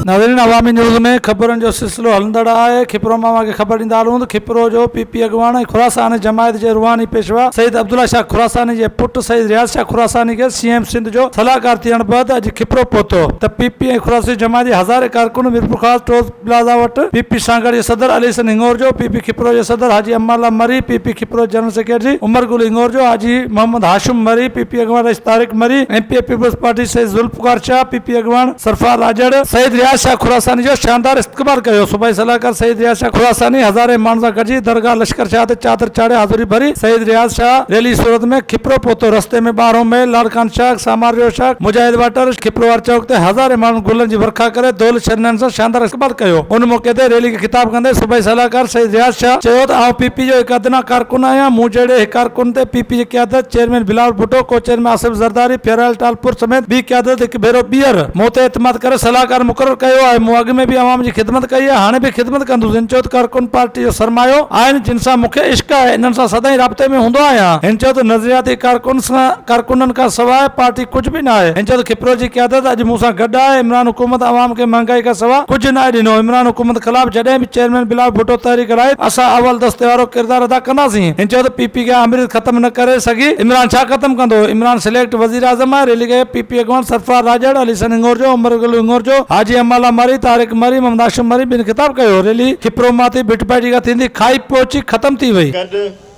ناظرين عوامي نيوز ۾ خبرن جو سلسلو هلندڙ آهي کپرو مان اوهان کي خبر ڏيندا هلون ته کپرو جو پي پي اڳواڻ ۽ خراساني جماعت جي روحاني پيشوا سيد عبدالله شاهه خراساني جي پٽ سيد رياض شاهه خراساني کي سي ايم سنڌ جو صلاحڪار ٿيڻ بعد اڄ کپرو پهتو ته پي پي ۽ خراساني جماعت جي هزارين ڪارڪن ميرپورخاص ٽوز پلازا وٽ پي پي سانگهڙ جي صدر علي حسن هنڱورجو، پي پي کپرو جي صدر حاجي امان الله مري، پي پي کپرو جي general secretary Umar Gul Hingorjo, Haji Muhammad Hashim Marri, P P اڳواڻ Rais Tariq Marri, M P A Peoples Party Syed Zulfiqar Shah, P P اڳواڻ سرفراز آجڙ، سيد رياض شاهه خراساني جو شاندار استقبال ڪيو، صوبائي صلاحڪار سيد رياض شاهه خراساني هزارين ماڻهن سان گڏجي درگاهه لشڪر شاهه تي چادر چاڙهي حاضري ڀري، سيد رياض شاهه ريلي صورت ۾ کپرو پهتو، رستي ۾ ٻارهون ميل، لاڙڪاڻه شاخ، سامارجو شاخ، مجاهد واٽر، کپرو واري چوڪ تي هزارين ماڻهن گلن جي ورکا ڪري دولت چيئرمين سان شاندار استقبال ڪيو. ان موقعي تي ريلي کي خطاب ڪندي صوبائي صلاحڪار سيد رياض شاهه چيو ته آئون پي پي جو هڪ ادنيٰ ڪارڪن آهيان، مون جهڙي هڪ ڪارڪن تي پي پي جي قيادت، چيئرمين بلاول ڀٽو، ڪو چيئرمين آصف زرداري، پياريلال ٽالپر سميت ٻي قيادت هڪ ڀيرو ٻيهر مون تي اعتماد ڪري صلاحڪار مقرر ڪيو آهي، مون اڳ ۾ به عوام جي خدمت ڪئي آهي، هاڻي به خدمت ڪندس. هن چيو ته ڪارڪن پارٽي جو سرمايو آهن، جن سان مون کي عشق آهي، انهن سان سدائين رابطي ۾ هوندو آهيان. هن چيو ته نظرياتي ڪارڪنن کان سواء پارٽي کي ڪجهه به نه آهي، هنجهت کپرو جي قيادت اڄ مون سان گڏ آهي، عمران حڪومت عوام کي مهانگائي کان سوا ڪجهه ناهي ڏنو، عمران حڪومت خلاف جڏهن به چيئرمين بلاول ڀٽو تحريڪ هلائي ته اسان اول دستي وارو ڪردار ادا ڪنداسين، هنجهت پي پي کي آمريت ختم نه ڪري سگهي، عمران ڇا ختم ڪندو، عمران سليڪٽ وزيراعظم آهي، ريلي کي پي پي اڳواڻ سرفراز راڄڙ، علي حسن هنڱورجو، عمر گل هنڱورجو، حاجي امان الله مري، طارق مري، محمد هاشم مري بن خطاب ڪيو، ريلي کپرو مان ٿي ڀٽ پارٽي کان ٿيندي کائي پهچي ختم ٿي وئي. گڏ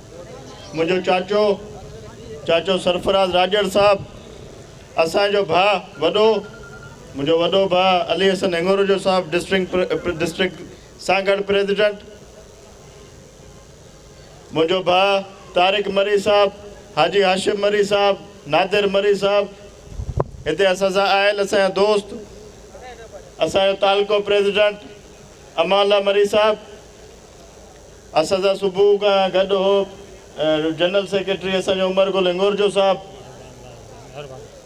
منهنجو چاچو چاچو سرفراز راڄڙ صاحب اسان جو ڀاء وڏو منهنجو وڏو ڀاء علي حسن هڱورجو صاحب ڊسٽرڪٽ ڊسٽرڪٽ سان گڏ پريزيڊنٽ منهنجو ڀاء طارق مري صاحب حاجي هاشم مري صاحب نادر مري صاحب هتي اسان سان آيل اسان جا دوست اسان جو تعلقو پريزيڊنٽ امالا مري صاحب اسحذا صبح کان گڏ هو جنرل سيڪريٽري اسان جو عمر گل هنگورجو صاحب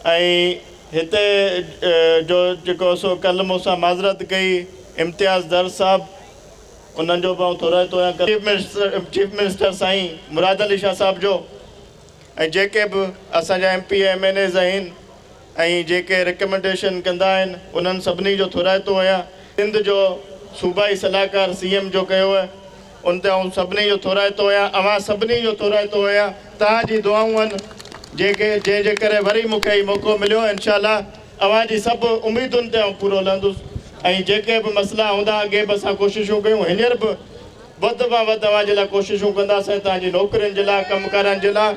۽ هتي جو جيڪو سو ڪل مون سان معذرت ڪئي امتياز درس صاحب انهن جو به آئون ٿورائتو تو آهيان چيف منسٽر چيف منسٽر سائين مراد علي شاهه صاحب جو ۽ جيڪي به اسان جا M P M N As آهن ۽ جيڪي رڪمينڊيشن ڪندا آهن انهن سڀني جو ٿورائتو آهيان سنڌ جو صوبائي صلاحڪار سي ايم جو ڪيو آهي ان تي آئون سڀني جو ٿورائتو آهيان اوهان سڀني جو ٿورائتو آهيان توهان جي دعائون آهن جيڪي جنهن جي ڪري وري مون کي هي موقعو مليو انشاء الله اوهان جي سڀ اميدن تي آئون پورو لهندس ۽ جيڪي به مسئلا هوندا اڳي به اسان ڪوششون ڪيون هينئر به وڌ مان وڌ اوهان جي لاء ڪوششون ڪنداسين توهان جي نوڪرين جي لاء ڪم ڪارن جي لاء.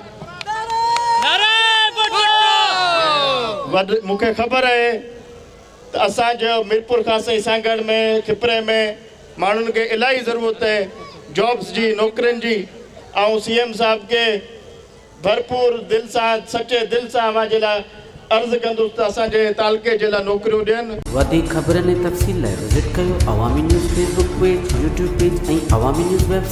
مون کي خبر آهي ته اسان جو ميرپور خاص ۽ سانگهڙ ۾ کپري ۾ ماڻهن کي الاهي ضرورت آهي جابس جي نوڪرين جي آئون سي ايم صاحب کي ڀرپور دل سان سچي دل سان اوهان جي لاء عرض ڪندس ته اسان جي تعلقي جي لاء نوڪريون ڏين. وڌيڪ خبرن ۽ تفصيل لاء وزٽ ڪيو Awami news Facebook page, YouTube page ۽ Awami news web site.